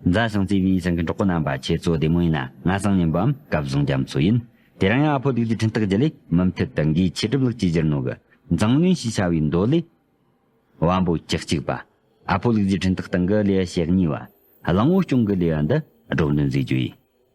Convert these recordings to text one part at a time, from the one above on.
བཟང་ཞིང་བརྩེ་བའི་ཞིང་གི་གྲོགས་པོ་རྣམ་པ་ཁྱེད་ཚོ་བདེ་མོ་ཡིན་ན་ང་སང་ཉིན་པའམ་སྐབས་བཟང་རྒྱ་མཚོ་ཡིན། དེ་རིང་ཡང་ཨ་ཕོ་དུས་ཀྱི་འཕྲིན་བཏགས་བརྒྱུད་ལས་མུ་མཐུད་དུ་འགའི་ཆེད་སྒྲུབ་ལུགས་གཅིག་གྱུར་ནོར་གི་མཛངས་བླུན་ཞེས་བྱ་བའི་མདོ་ལས། དབང་པོ་བཅུ་གཅིག་པ། ཨ་ཕོ་ལུགས་ཀྱི་འཕྲིན་བཏགས་སྟེང་གི་ལེའུ་ཞེ་གཉིས་པ། གླིང་བུ་སྐྱོང་གི་ལེའུ་འདི་སྒྲོག་འདོན་མཛད་རྒྱུ་ཡིན།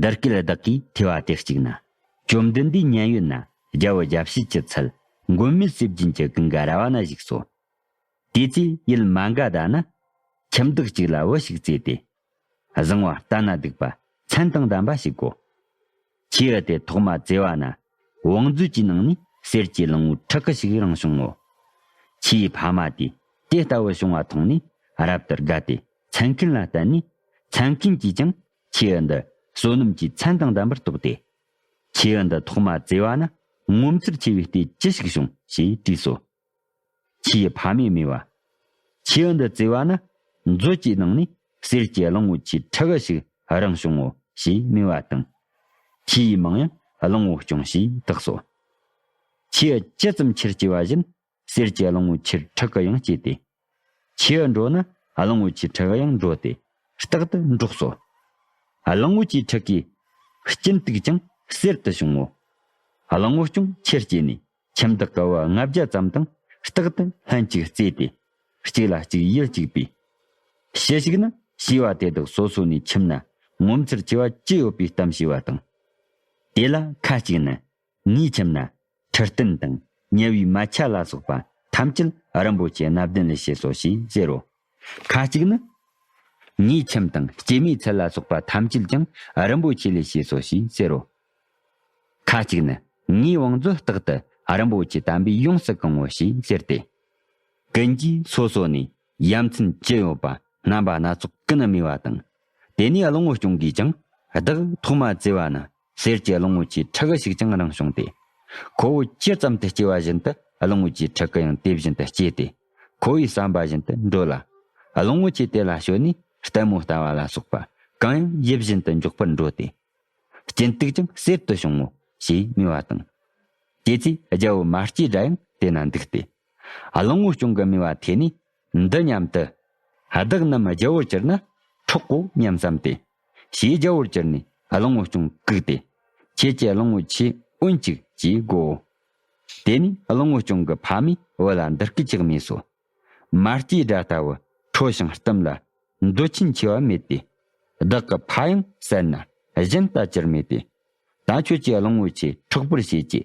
འདིར་སྐད་བདག་གིས་ཐོས་བ་དེ་གཅིག་ན། བཅོམ་ལྡན་འདས་མཉན་ཡོད་ན་རྒྱལ་བུ་རྒྱལ་བྱེད་ཀྱི་ཚུལ། མགོན་མེད་སྲིད་བརྒྱན་གྱི་གིང་ག་ར་བ་ན་བཞུགས་སོ། དེ་ཚེ་ཡུལ་མ་འགའ་ད་ན། ཁྱིམ་བདག་གཅིག་ལ་བུ་ཞིག་བཙས་ཏེ། བཟང་བ་ལྟ་ན་སྡིག་པ་མཚན་དང་ལྡན་པ་ཞིག་གོ། ཁྱེའུ་དེ་ཐོག་མ་བཙས་བ་ན་བང་མཛོད་ཀྱི་ནང་ནས་གསེར་གྱི་གླིང་བུ་ཁྲག་གི་ཞིག་རང་བྱུང་ངོ། ཁྱེའུ་ཕ་མ་དེས་དེ་ལྟ་བུ་བྱུང་བ་མཐོང་ནས་རབ་ཏུ་དགའ་སྟེ་མཚན་མཁན་ལ་བསྟན་ནས། མཚན་མཁན་གྱིས་ཀྱང་ཁྱེའུ་འདི་བསོད་ནམས་ཀྱི་མཚན་དང་ལྡན་པར་རྟོགས་ཏེ། ཁྱེའུ་འདི་ཐོག་མ་བཙས་བ་ན་ངོ་མཚར་ཆེ་བའི་ལྟས་ཅི་ཞིག་བྱུང་ཞེས་དྲིས་སོ། ཆེས་ཕ་མའི་མེ་བ། ཁྱེའུ་འདི་བརྩེ་བ་ན་མཛོད་ཅིག་གནང་ནས་གསེར་གྱི་གླང་བོ་ཆེའི་ཁྲི་འགའ་ཞིག་རང་བྱུང་ངོ་ཞེས་སྨྲས་བ་དང། ཁྱེའུ་ཡིས་མང་ཡང་གླང་བོ་སྐྱོང་ཞེས་བཏགས་སོ། ཁྱེའུ་ཇི་ཙམ་ཁྱེར་སྐྱེ་བ་བཞིན་གསེར་གྱི་གླང་བོ་ཆེར་ཁྲི་འགའ་ཡང་སྐྱེས་ཏེ། ཁྱེའུ་འགྲོ་ན་གླང་བོ་ཆེའི་ཁྲི་འགའ་ཡང་འགྲོ་སྟེ་རྟག་ཏུ་འགྲོགས་སོ། གླང་བོ་ཆེའི་ཁྲི་ཀའི་སྐྱིན་དུག་ཀྱང་གསེར་དུ་བྱུང་ངོ། གླང་བོ་སྐྱོང་ཁྱེར་སྐྱེས་ནས་ཁྱིམ་བདག་གི་བུ་ལྔ་བརྒྱ་ཙམ་དང་རྟག་ཏུ་ལྷན་ཅིག་རྩེས་ཏེ། གཅིག་ལ་གཅིག་ཡིད་གཅིག་པས། ཕྱི་ཞིག་ན་ཤི་བ་དེ་དག་སོ་སོ་ནས་ཁྱིམ་ན་ངོ་མཚར་ཆེ་བ་ཅི་ཡོད་པའི་གཏམ་བྱས་པ་དང། དེ་ལ་ཁ་ཅིག་ནི། ངའི་ཁྱིམ་ན་ཁྲི་སྟན་དང་དམྱལ་བའི་མ་ཆ་ལ་སོགས་པ་ཐམས་ཅད་རིན་པོ་ཆེ་སྣ་བདུན་ལས་བྱས་སོ་ཞེས་ཟེར་རོ། ཁ་ཅིག་ནི། ཉེས་ཁྱིམ་དང་སྐྱེ་མའི་ཚད་ལ་སོགས་པ་ཐམས་ཅད་ཀྱང་རིན་པོ་ཆེ་ལས་སྐྱེས་སོ་ཞེས་ཟེར་རོ། ཁ་ཅིག་ནི། ངའི་བང་མཛོད་རྟག་ཏུ་རིན་པོ་ཆེ་དམ་པས་ཡོངས་སུ་གང་ངོ་ཞེས་ཟེར་ཏེ། ཀུན་གྱིས་སོ་སོ་ནས་ཡ་མཚན་ཅི་ཡོད་པ་རྣམ་པ་སྣ་ཚོགས་ཀུན་སྨྲས་པ་དང། དེ་ནས་གླིང་བུ་སྐྱོང་གིས་ཀྱང་བདག་ཐོག་མ་བཙས་པ་ན་སེར་སྐྱའི་གླིང་བུ་ཆེའི་ཁྲི་ཁ་ཞིག་ཀྱང་རང་བྱུང་སྟེ། ཁོ་བོས་ཇི་ཙམ་དུ་སྐྱེ་བ་བཞིན་དུ་གླིང་བུ་ཆེའི་ཁྲི་ཁ་ཡང་དེ་བཞིན་དུ་སྐྱེས་ཏེ། ཁོ་བོའི་བསམ་པ་བཞིན་དུ་འགྲོ་ལ། གླིང་བུ་ཆེ་དེ་ལ་ཞོན་ནས་ལྟད་མོ་ལྟ་བ་ལ་སོགས་པ་གང་ཡང་ཡིད་བཞིན་དུ་འཇོག་པར་འགྲོ་སྟེ། སྐྱིན་སྟུག་ཀྱང་གསེར་དུ་བྱུང་ངོ་ཞེས་སྨྲས་བ་དང། དེ་ཚེ་རྒྱལ་པོ་མ་སྐྱེས་དགྲ་ཡང་དེ་ན་འདུག་སྟེ། གླིང་བུ་སྐྱོང་གི་སྨྲས་པ་ཐོས་ནས་འདི་སྙམ་དུ། བདག་རྣམས་རྒྱལ་པོར་གྱུར་ན་འཕྲོག་གོ་སྙམ་བསམས་ཏེ། ཞེས་རྒྱལ་པོར་གྱུར་ནས་གླིང་བུ་ཅུང་བཀུག་སྟེ། ཁྱེད་ཀྱི་གླིང་བུ་ཆེས་དབུལ་གཅིག་ཅེས་བསྒོའོ། དེ་ནས་གླིང་བུ་ཅུང་གི་ཕ་མའི་བུ་ལ་འདི་སྐད་ཅེས་སྨྲས་སོ། མ་སྐྱེས་དགྲ་ལྟ་བུ་ཁྲོ་ཞིང་གཏུམ་ལ། འདོད་ཆེན་ཆེ་བ་མེད་དེ། བདག་གི་ཕ་ཡང་བསད་ན་གཞན་ལྟ་ཅིར་མེད་དེ། ད་ཁྱོད་ཀྱི་གླིང་བུ་ཆེ་འཕྲོག་པར་བྱེད་ཅེས་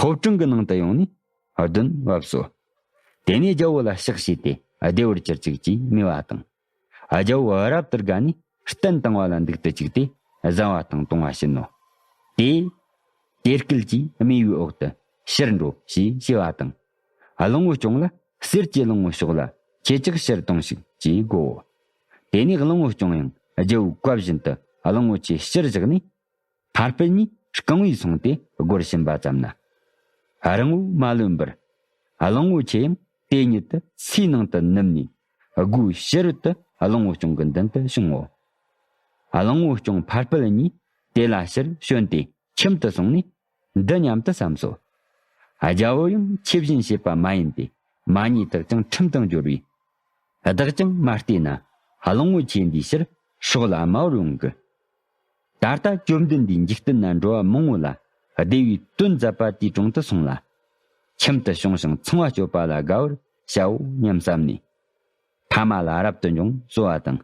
ཐོབ་དྲུང་གི་ནང་དུ་ཡོང་ནས་གདོན་བབས་སོ། དེ་ནས་རྒྱལ་པོ་ལ་གཤེགས་བྱས་ཏེ་བདེ་བར་གྱུར་ཅིག་ཅེས་སྨྲས་པ་དང། རྒྱལ་པོ་རབ་ཏུ་དགའ་ནས་སྟན་བཏིང་བ་ལ་འདུག་ཏུ་བཅུག་སྟེ་བཟའ་བ་དང་བཏུང་བ་བྱིན་ནོ། དེས། དེ་སྐད་ཀྱིས་དམིགས་པའི་འོག་ཏུ་ཕྱིར་འགྲོ་ཞེས་བྱ་བ་དང། གླིང་བུ་སྐྱོང་ལ་གསེར་གྱི་གླིང་བུ་ཞོག་ལ་ཁྱེད་ཅག་ཕྱིར་དོང་ཞིག་ཅེས་བསྒོའོ། དེ་ནས་གླིང་བུ་སྐྱོང་ཡང་རྒྱལ་པོའི་བཀའ་བཞིན་དུ་གླིང་བུ་ཆེ་ཕྱིར་བཞག་ནས། ཕར་སྤེལ་གཉིས་རྐང་བས་བཟུང་སྟེ་སྒོར་ཕྱིན་པ་ཙམ་ན། རིང་བོ་མ་ལོན་པར། གླིང་བུ་ཆེ་ཡང་དེ་ཉིད་དུ་སའི་ནང་དུ་ནུབ་ནས། སྒོའི་ཕྱི་རོལ་དུ་གླིང་བུ་སྐྱོང་གི་མདུན་དུ་བྱུང་ངོ། གླིང་བུ་སྐྱོང་ཕར་སྤེལ་གཉིས་དེ་ལ་ཕྱིར་བྱོན་ཏེ་ཁྱིམ་དུ་སོང་ནས། འདི་སྙམ་དུ་བསམས་སོ། རྒྱལ་པོ་ཡང་ཁྱེད་བཞིན་བྱེད་པ་མ་ཡིན་ཏེ་མ་ཉེས་དག་ཀྱང་ཁྲིམས་དང་སྦྱོར་བས། བདག་ཀྱང་མ་བལྟས་ན་གླིང་བུ་ཆེ་འདིའི་ཕྱིར་ཕྱོགས་ལ་དམའ་བར་ཡོང་གི། ད་ལྟ་བཅོམ་ལྡན་འདས་འཇིག་རྟེན་ན་འགྲོ་བ་མང་བོ་ལ་བདེ་བའི་དོན་མཛད་པ་དེའི་དྲུང་དུ་སོང་ལ། ཁྱིམ་དུ་བྱུང་ཞིང་ཚང་བ་སྤྱོད་པ་ལ་དགའ་བར་བྱའོ་སྙམ་བསམས་ནས། ཕ་མ་ལ་རབ་ཏུ་འབྱུང་གསོལ་བ་དང།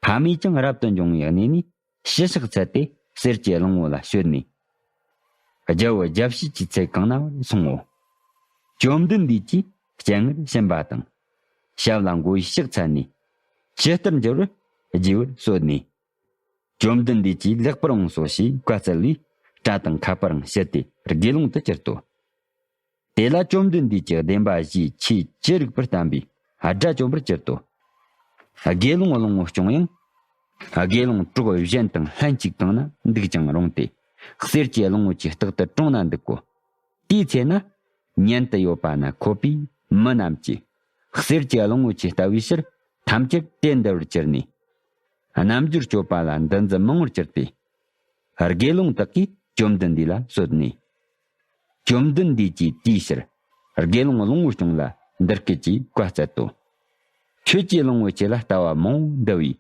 ཕ་མས་ཀྱང་རབ་ཏུ་འབྱུང་བའི་གནས་ནས་ཕྱི་ཕྱག་འཚལ་ཏེ་གསེར་གྱི་གླིང་བུ་ལ་བྱོན་ནས། རྒྱལ་བུ་རྒྱལ་བྱེད་ཀྱི་ཚལ་གང་ན་བར་སོང་ངོ། བཅོམ་ལྡན་འདས་ཀྱིས་སྤྱན་སྔར་བྱིན་པ་དང། ཞབས་ལ་མགོ་བོས་ཕྱག་འཚལ་ནས། ཇི་ལྟར་འགྱུར་བར་བགྱི་བར་གསོལ་ནས། བཅོམ་ལྡན་འདས་ཀྱིས་ལེགས་པར་འོངས་སོ་ཞེས་བཀའ་སྩལ་བས། སྐྲ་དང་ཁ་པར་འང་ཕྱིར་ཏེ་དགེ་སློང་དུ་གྱུར་ཏོ། དེ་ལ་བཅོམ་ལྡན་འདས་ཀྱིས་བདེན་པ་བཞིའི་ཆོས་ཅི་རིགས་པར་བསྟན་པས་དགྲ་བཅོམ་པར་གྱུར་ཏོ། དགེ་སློང་བློང་བོ་སྐྱོང་ཡང། དགེ་སློང་གྲོགས་གཞན་དང་ལྷན་ཅིག་བཏང་ན་འདུག་ཀྱང་རུང་སྟེ། གསེར་གྱི་བློང་བོ་ཆེ་རྟག་ཏུ་གྲོང་ན་འདུག་གོ། དེའི་ཚེ་ན། མཉན་དུ་ཡོད་པ་ན་འཁོད་པའི་མི་རྣམས་ཀྱིས། གསེར་གྱི་བློང་བོ་ཆེ་ལྟ་བུའི་ཕྱིར་ཐམས་ཅད་དེ་འདི་བར་གྱུར་ནས། རྣམ་འགྱུར་སྤྱོད་པ་ལ་འདུ་འཛི་མང་བོར་གྱུར་ཏེ། དགེ་སློང་དག་གིས་བཅོམ་ལྡན་འདས་ལ་གསོལ་ནས། བཅོམ་ལྡན་འདས་ཀྱིས་དེའི་ཕྱིར་དགེ་སློང་བློང་བོ་སྐྱོང་ལ་འདི་སྐད་ཅེས་བཀའ་སྩལ་ཏོ། ཁྱོད་ཀྱིས་བློང་བོ་ཁྱེད་ལ་ལྟ་བ་མང་བོ་འདུ་བས།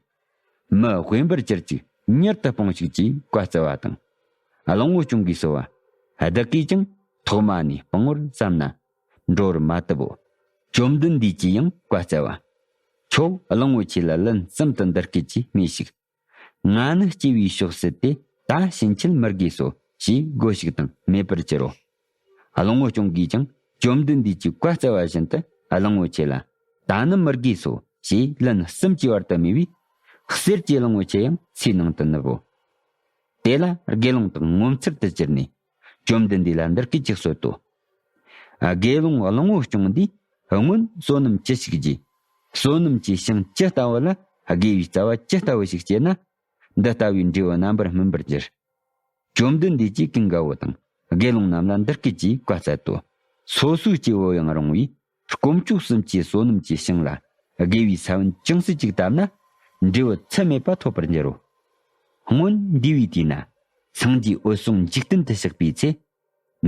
མི་དབེན་པར་གྱུར་ཅིག་མྱུར་དུ་སྤངས་ཤིག་ཅེས་བཀའ་སྩལ་བ་དང། བློང་བོ་སྐྱོང་གིས་གསོལ་བ། བདག་གིས་ཀྱང་ཐོག་མ་ནས་སྤང་བར་བསམས་ན། འགྲོ་བར་མ་བཏབ་བོ། བཅོམ་ལྡན་འདས་ཀྱིས་ཡང་བཀའ་སྩལ་པ། ཁྱོད་གླང་བོ་ཆེ་ལ་ལན་གསུམ་དུ་འདི་སྐད་ཅེས་སྨྲོས་ཤིག། ང་ནི་སྐྱེ་བའི་ཕྱོགས་སུ་དེ་ད་ཕྱིན་ཆད་མི་དགོས་སོ་ཞེས་བསྒོ་ཞིག་དང་མེད་པར་གྱུར་རོ། གླང་བོ་ཅོང་གིས་ཀྱང་བཅོམ་ལྡན་འདས་ཀྱིས་བཀའ་སྩལ་བ་བཞིན་དུ་གླང་བོ་ཆེ་ལ་ད་ནི་མི་དགོས་སོ་ཞེས་ལན་གསུམ་གྱིས་བར་དུ་སྨྲས་པས། གསེར་གྱི་གླང་བོ་ཆེ་ཡང་ཚེའི་ནང་དུ་ནུབ་བོ། དེ་ལ་དགེ་སློང་དག་ངོ་མཚར་དུ་གྱུར་ནས་བཅོམ་ལྡན་འདས་ལ་འདིར་སྐད་ཅིག་གསོལ་ཏོ། དགེ་སློང་གླང་བོ་སྐྱོང་འདིས་སྔོན་བསོད་ནམས་ཅི་ཞིག་བགྱིས། བསོད་ནམས་ཀྱི་ཤིང་ཇི་ལྟ་བུ་ལ་དགེ་བའི་རྩ་བ་ཇི་ལྟ་བུ་ཞིག་སྐྱེས་ན། འདི་ལྟ་བུའི་འབྲས་བུ་རྣམ་པར་སྨིན་པར་འགྱུར། བཅོམ་ལྡན་འདས་ཀྱིས་ཀིང་ག་བུ་དང་དགེ་སློང་རྣམས་ལ་འདིར་སྐད་ཅིག་བཀའ་སྩལ་ཏོ། སོ་སོའི་སྐྱེ་བོ་ཡང་རུང་བའི་སྐོམ་སྐྱུག་གསུམ་གྱིས་བསོད་ནམས་ཀྱི་ཤིང་ལ་དགེ་བའི་ས་བོན་ཅུང་ཟད་ཅིག་བཏབ་ན། འབྲས་བུ་ཚད་མེད་པ་ཐོབ་པར་འགྱུར་རོ། སྔོན་འདས་པའི་དུས་ན། སངས་རྒྱས་འོད་སྲུང་འཇིག་རྟེན་དུ་གཤེགས་པའི་ཚེ།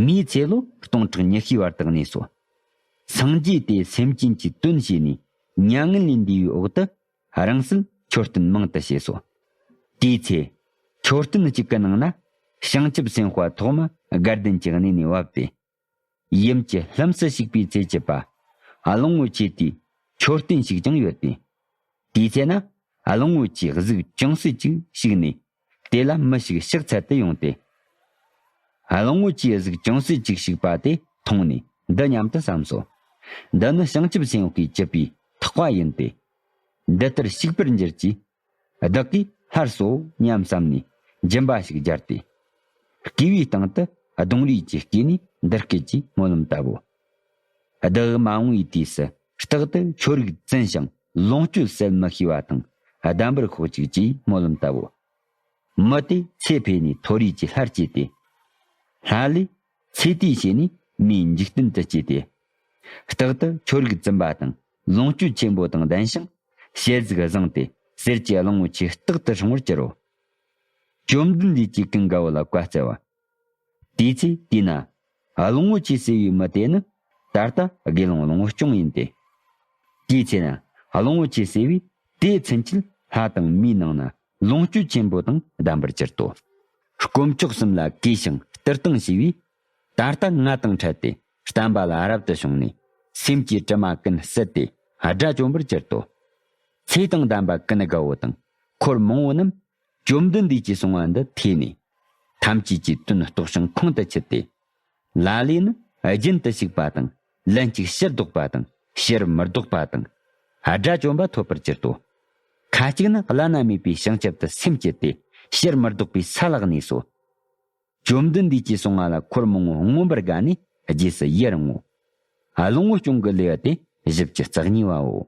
མིའི་ཚེ་ལོ་སྟོང་ཕྲག་ཉི་ཤུའི་བར་དག་ནས་སོ། སངས་རྒྱས་དེས་སེམས་ཅན་གྱི་དོན་བྱས་ནས་མྱ་ངན་ལས་འདས་པའི་འོག་ཏུ། རང་གསལ་མཆོད་རྟེན་མང་དུ་བྱས་སོ། དེའི་ཚེ། མཆོད་རྟེན་གཅིག་གི་ནང་ན། བྱང་ཆུབ་སེམས་དཔའ་ཐོག་མ་སྒར་ལྡན་གྱི་གནས་ནས་བབས་ཏེ། ཡུམ་གྱི་ལྷུམས་སུ་ཞུགས་པའི་ཚེ་བྱིས་པ་གླིང་བུ་ཆེ་དེའི་མཆོད་རྟེན་ཞིག་ཀྱང་ཡོད་དེ། དེའི་ཚེ་ན་གླིང་བུ་ཆེའི་གཟུགས་ཅུང་ཟད་ཅིག་ཞིག་ནས་དེ་ལ་མི་ཞིག་ཕྱག་འཚལ་དུ་ཡོང་སྟེ། གླིང་བུ་ཆེའི་གཟུགས་ཅུང་ཟད་ཅིག་ཞིག་པ་དེ་མཐོང་ནས་འདི་སྙམ་དུ་བསམས་སོ། འདི་ནི་བྱང་ཆུབ་སེམས་དཔའི་བྱིས་པའི་ཐག་པ་ཡིན་ཏེ། འདི་ལྟར་བྱུགས་པར་འགྱུར་གྱིས་བདག་གིས་སླར་གསོ་སྙམ་བསམས་ནས་སྦྱིན་པ་ཞིག་སྦྱར་ཏེ། བསྐུས་པའི་སྟེང་དུ་གདུང་རུས་ཀྱིས་བསྐུས་ནས་འདི་སྐད་ཅེས་སྨོན་ལམ་བཏབ་བོ། བདག་མ་འོངས་པའི་དུས་སུ་རྟག་ཏུ་ཆོ་རིགས་བཙན་ཞིང་ལོངས་སྤྱོད་གསལ་མི་ཤེས་པ་དང་ལྡན་པར་ཤོག་ཅིག་ཅེས་སྨོན་ལམ་བཏབ་བོ། མི་དེ་ཚེ་འཕོས་ནས་མཐོ་རིས་ཀྱི་ལྷར་སྐྱེས་ཏེ། ལྷ་ལས་ཚེ་དེའི་ཕྱེད་ནི་མིའི་འཇིག་རྟེན་དུ་སྐྱེས་ཏེ། རྟག་ཏུ་ཆོས་རིག་བཙུན་པ་དང་ལོངས་སྤྱོད་ཆེན་པོ་དང་ལྡན་ཞིང་ཞལ་གཟིགས་བཟང་སྟེ་གསེར་གྱི་གླིང་བུ་ཆེ་རྟག་ཏུ་བྱུང་བར་གྱུར་རོ། བཅོམ་ལྡན་འདས་ཀྱིས་ཀུན་དགའ་བོ་ལ་བཀའ་སྩལ་པ། དེའི་ཚེ་དེས་ན། གླིང་བུ་ཆེ་ཟེར་བའི་མི་དེ་ནི་ད་ལྟ་དགེ་སློང་གླིང་བུ་སྐྱོང་ཡིན་ཏེ། དེའི་ཚེ་ན་གླིང་བུ་ཆེ་ཟེར་བས་དེའི་མཚན་གྱིས་ལྷ་དང་མིའི་ནང་ན་ལོངས་སྤྱོད་ཆེན་པོ་དང་ལྡན་པར་གྱུར་ཏོ། དཀོན་མཆོག་གསུམ་ལ་གུས་ཤིང་སྤྲུལ་བཏང་བྱས་པས། ད་ལྟ་ང་དང་ཕྲད་དེ་བསྟན་པ་ལ་རབ་ཏུ་བྱུང་ནས། སེམས་ཀྱི་དྲི་མ་ཀུན་བསལ་ཏེ་དགྲ་བཅོམ་པར་གྱུར་ཏོ། ཚེ་དང་ལྡན་པ་ཀུན་དགའ་བོ་དང་འཁོར་མང་བོ་རྣམས། བཅོམ་ལྡན་འདས་ཀྱིས་གསུང་བ་འདི་ཐོས་ནས། ཐམས་ཅད་ཀྱིས་དོན་རྟོགས་ཤིང་ཁོང་དུ་ཆུད་དེ། ལ་ལས་ནི་རྒྱུན་དུ་ཞུགས་པ་དང་ལན་ཅིག་ཕྱིར་ལྡོག་པ་དང་ཕྱིར་མི་ལྡོག་པ་དང། དགྲ་བཅོམ་པ་ཐོབ་པར་གྱུར་ཏོ། ཁ་ཅིག་ནི་བླ་ན་མེད་པའི་བྱང་ཆུབ་ཏུ་སེམས་བསྐྱེད་དེ་ཕྱིར་མི་ལྡོག་པའི་ས་ལག་ནས་སོ། བཅོམ་ལྡན་འདས་ཀྱིས་གསང་བ་ལ་འཁོར་མང་བོ་མངོན་པར་དགའ་ནས་རྗེས་སུ་ཡི་རང་ངོ། ལོངས་སྤྱོད་སྐྱོང་གི་ལེའུ་སྟེ་བཞི་བཅུ་རྩ་གཉིས་པའོ།